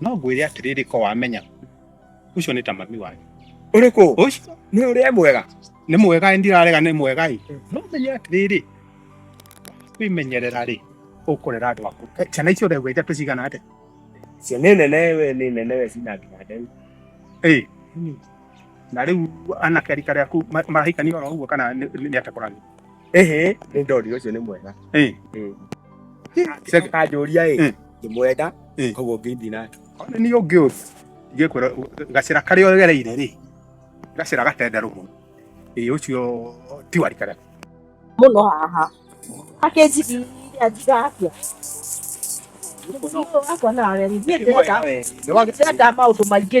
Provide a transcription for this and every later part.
No ngwĩre atĩrĩrĩ ko wamenya. Ũcio nĩ ta mami wanyu. Ũrĩkũ? Ũcio. Nĩ ũrĩa mwega. Nĩ mwega ndirarega nĩ mwega ĩ. Mm. No menye atĩrĩrĩ. Kwĩmenyerera rĩ ũkũrera andũ aku. Eh, ciana icio ũregwa ithatũ cigana atĩa? Cio nĩ nene we nĩ nene we cina nginya ndeu. Ĩ. Na rĩu anake rika rĩaku marahikania oro ũguo kana nĩ atakũrania? ehe nä ndori å cio nä mwega Eh, kanjåria ä ndä mwenda Eh. koguo ngä ithi nake ona nĩ ũngĩ ũyũ ingĩkwĩra gacĩra karĩa ũgereire rĩ gacĩra gatenderũ mũno ĩ ũcio ti warikana muno haha akenjigiria ndigakĩa wakwa nawe nĩ ndĩrenda maũndũ maingĩ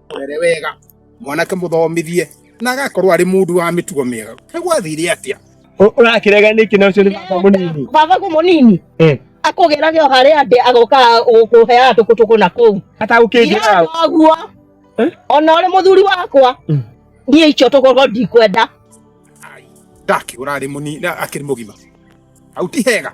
were wega mwanake muthomithie na agakorwo ari mundu wa mitugo miega nigwathire atia urakirega niki na ucio ni baba munini baba ko munini eh akugera gyo hare ande agoka gukuhea tukutuku na kuu hata ukingira guo eh? ona uri muthuri wakwa mm. nie icio tukorwo ndikwenda ndaki urari munini akiri mugima au ti hega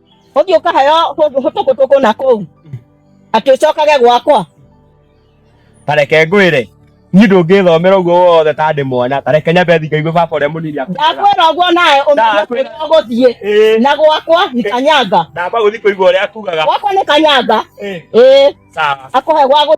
ũthiĩ ũkaheo kũndũ hũtũkũtũkũ na kũu atĩ ũcokage gwakwa tareke ngwĩre niĩ ndũngĩthomera ũguo wothe ta ndĩ mwana tareke nyambe thiĩ ngaigue baba ũrĩa mũnini ndakwĩra ũguo nawe ũmenye ũgũthiĩ na gwakwa nĩ kanyanga ndamba gũthiĩ kũigua ũrĩa akugaga gwakwa nĩ kanyanga ĩĩ akũhe gwa